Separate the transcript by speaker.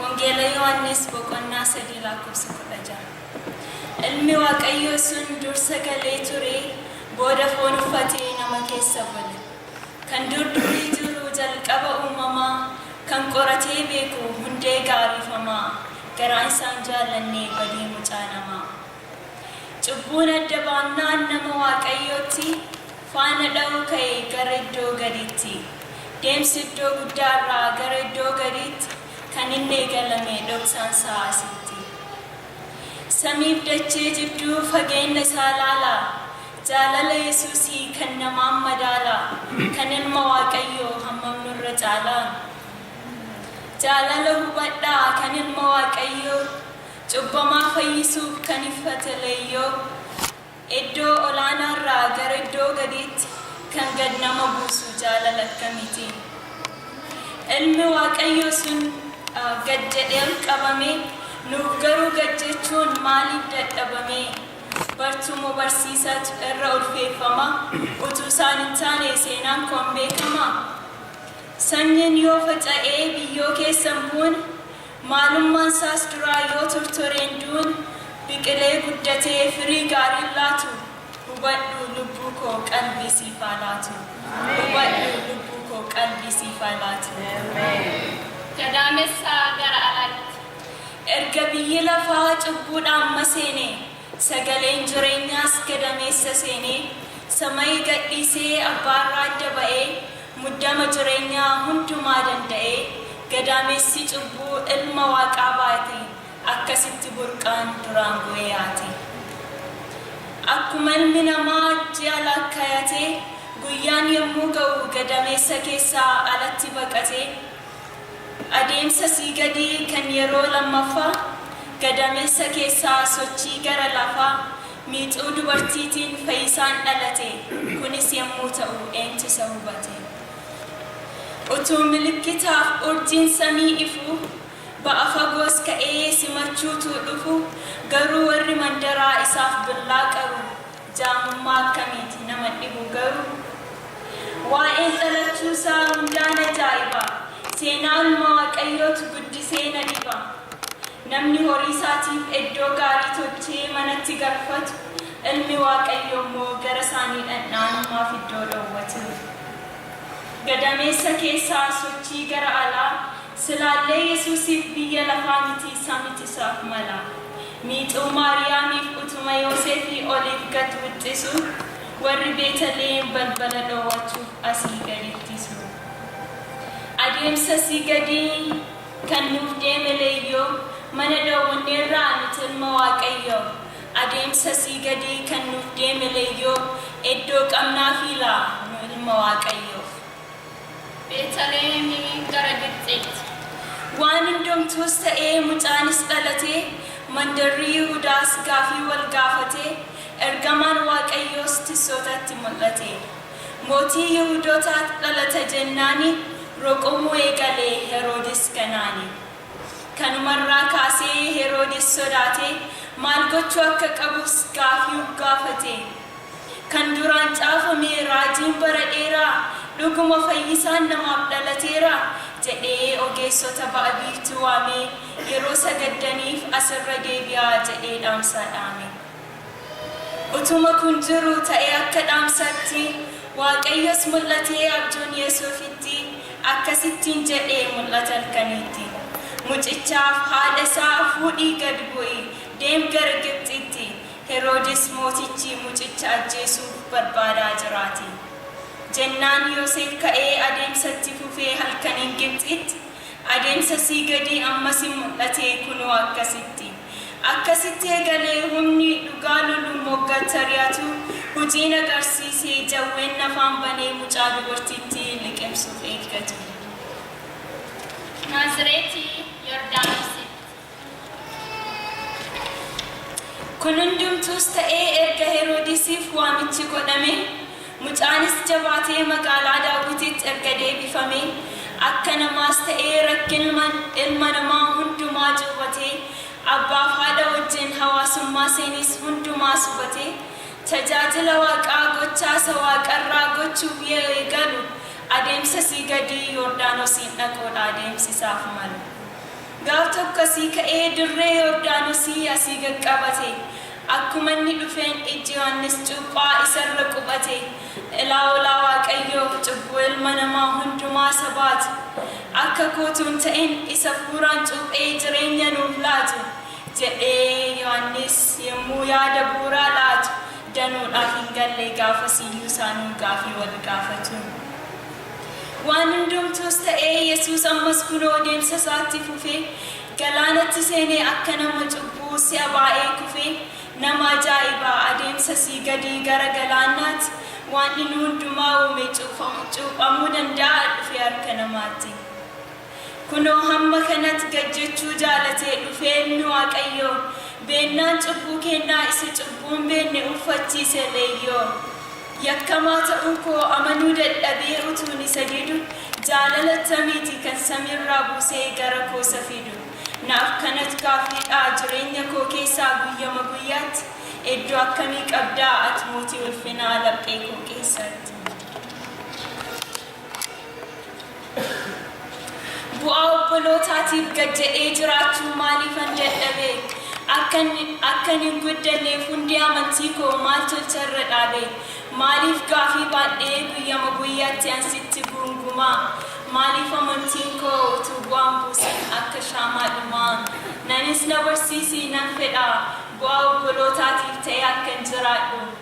Speaker 1: Wangeela Yohaannis boqonnaa sadii lakkoofsa kudha ja'a. Ilmi Waaqayyoo sun dursa galee ture, booda foon uffatee nama keessa bule. Kan dur durii jiru jalqaba uumamaa Kan qoratee beeku hundee gaariifamaa Garaan isaan jaallanne badii mucaa namaa Cubbuun adda baannaan nama waaqayyootti Faana dha'uu ka'e gara iddoo gadiitti Deemsi iddoo guddaarraa gara iddoo gadiitti Kan inni eegalame dhoksaan isaa asitti Samiif dachee jidduu fageenna isaa ilaalaa Jaalala Yesuusii kan namaan madaala, kan Ilma Waaqayyoo hammam nurra caala? Jaalala hubadhaa kan Ilma Waaqayyoo, cubbamaa fayyisuuf kan iffate leeyyoo, eddoo olaanaarraa gara iddoo gadiitti kan gad nama buusu jaalala akkamiiti? Ilmi Waaqayyoo sun gad jedhee ol qabamee, nuuf garuu gad jechuun maaliif dadhabamee? Bartuu moo barsiisaatu irra ulfeeffama? Utuu isaan hin taane seenaan koo hin beekamaa? Sanyiin yoo faca'ee biyyoo keessa hin buune, maalummaan isaas duraa yoo tortoree hin duune, biqilee guddatee firii gaarii hin laatu? Hubadhu lubbuu koo qalbii siif haa laatu. Hubadhu lubbuu koo qalbii siif haa laatu. Gadaamessa
Speaker 2: gara alaatti. Erga
Speaker 1: biyyi lafaa cubbuudhaan maseenee, sagaleen jireenyaas gadameessa seenee, samayi gadhiisee abbaa irraa adda ba'ee, muddama jireenyaa hundumaa danda'ee, gadaamessi cubbuu ilma waaqaa baate, akkasitti burqaan duraan bu'ee haate. Akkuma ilmi namaa ji'a laakkayatee, guyyaan yommuu ga'u gadameessa keessaa alatti baqatee, Adeemsa sii gadii kan yeroo lammaffaa gadameessa keessaa sochii gara lafaa miixuu dubartiitiin Fayisaan dhalate kunis yemmuu ta'u eentu isa hubate? Utuu milikkitaaf urjiin samii ifuu ba'a fagoos ka'ee simachuutuu dhufu garuu warri mandaraa isaaf billaa qaru Jaamummaa akkamiiti nama dhibu garuu? Waa'een dhalachuu isaa hundaan ajaa'iba, seenaanuma Waaqayyootu guddisee na dhiba. Namni horii isaatiif eddoo gaarii tolchee manatti galfatu, Ilmi Waaqayyoo immoo gara isaanii dhandha'an maaf iddoo dhowwata? Gadameessa keessaa sochii gara alaa, silaallee Yesuusiif biyya lafaa mitii samit isaaf mala. Miixuu Maariyaamiif utuma Yooseefii oliif gad wixxisu, warri Beetaliheem balbala dhoowwachuuf asii gad ittisu. Adeemsa asii gadii kan nuuf deeme Leeyyoo, Mana dhoowwanneerraa nuti Ilma Waaqayyoo, Adeemsa asii gadii kan nuuf deeme Leeyyoo, Eddoo qabnaafii laa nu Ilma Waaqayyoof? Beetaliheemii
Speaker 2: gara Gibxiitti. Waan
Speaker 1: hundumtuus ta'ee mucaanis dhalatee, mandarri Yihudaas gaafii wal gaafatee, ergamaan Waaqayyoos tissootatti mul'ate. Mootii Yihudotaa dhalata jennaani roqomuu eegale Heroodis ganaani. Kanuma irraa kaasee Heroodis sodaatee maal gochuu akka qabus gaafii uf gaafate. Kan duraan caafame raajiin bara dheeraa dhuguma fayyisaan namaaf dhalateera jedhee ogeessota ba'a biiftuu waamee yeroo sagaddaniif as irra deebi'aa jedhee dhaamsaa dhaame. Utuma kun jiru ta'e akka dhaamsaatti Waaqayyos mul'atee abjoon Yesuufitti akkas ittiin jedhe mul'ata halkaniitti Mucichaaf haadha isaa fuudhii gad bu'i deem gara Gibxiitti Heroodis mootichi mucicha ajjeesuuf barbaadaa jiraati. Jennaan Yoseef ka'ee adeemsa itti fufee halkaniin Gibxiitti adeemsa sii gadii ammas in mul'ate, kunoo akkasitti. Akkasitti eegalee humni dhugaa lolu moggattari'atu hujii in agarsiise, jawween nafaan banee mucaa dubartittii liqimsuuf eeggatu. Naazireeti
Speaker 2: Yordaanositti.
Speaker 1: Kun hundumtuus ta'ee erga Heroodisiif waamichi godhamee, mucaanis jabaatee magaalaa Daawwitiitti erga deebifamee, akka namaas ta'ee rakkinma ilma namaa hundumaa cuuphatee, abbaaf haadha wajjin hawaasummaa seeniis hundumaas hubatee, tajaajila Waaqaa gochaa isa Waaqarraa gochuuf yeo eegalu, adeemsa asii gadii Yoordaanosiin dhaquudha adeemsi isaaf malu. Gaaf tokko asii ka'ee dirree Yordaanosii asii gad qabate. Akkuma inni dhufeen ijji Yohannis cuuphaa isa irra qubate. Ilaa olaa Waaqayyo cubbuu ilma namaa hundumaa isa baatu. Akka koo utuu hin ta'in isa fuuraan cuuphee jireenya nuuf laatu jedhee Yohannis yemmuu yaada bu'uuraa laatu danuudhaaf hin galle gaafasiyyuu isaanuu gaafii wal gaafatu. Waan hundumtuus ta'ee Yesuus ammas kunoo deemsa isaa itti fufee galaanatti seenee akka nama cubbuu si'a baay'ee kufee nama ajaa'iba adeemsa sii gadii gara galaannaatti waan inni hundumaa uume cuuphamuu danda'aa dhufee harka namaatti. Kunoo hamma kanat gad jechuu jaalatee dhufee ilmi Waaqayyoo, beennaan cubbuu keennaa isa cubbuu hin beenne uuffachiise leeyyoo. Yakkamaa ta'uu koo amanuu dadhabee utuun isa didu, jaalala attamiiti kan samiirraa buusee gara koo isa fidu? Naaf kanat gaaffiidha jireenya koo keessaa guyyama guyyaat eddo akkamii qabdaa at mootii ulfinaa laphee koo keessat? Bu'aa obbolootaatiif gadda'ee jiraachuu maaliifan dadhabe? Akkan, akkan hin guddanneef hundee amantii koo maal tolcha irra dhaabe? Maaliif gaafii baadhee guyyama guyyaatti an sitti guunguma? Maaliif amantiin koo utuu bu'aan buusin akka shaamaa dhuma? Nanis na barsiisi, nan fedha bu'aa obbolootaatiif ta'ee akkan jiraadhu.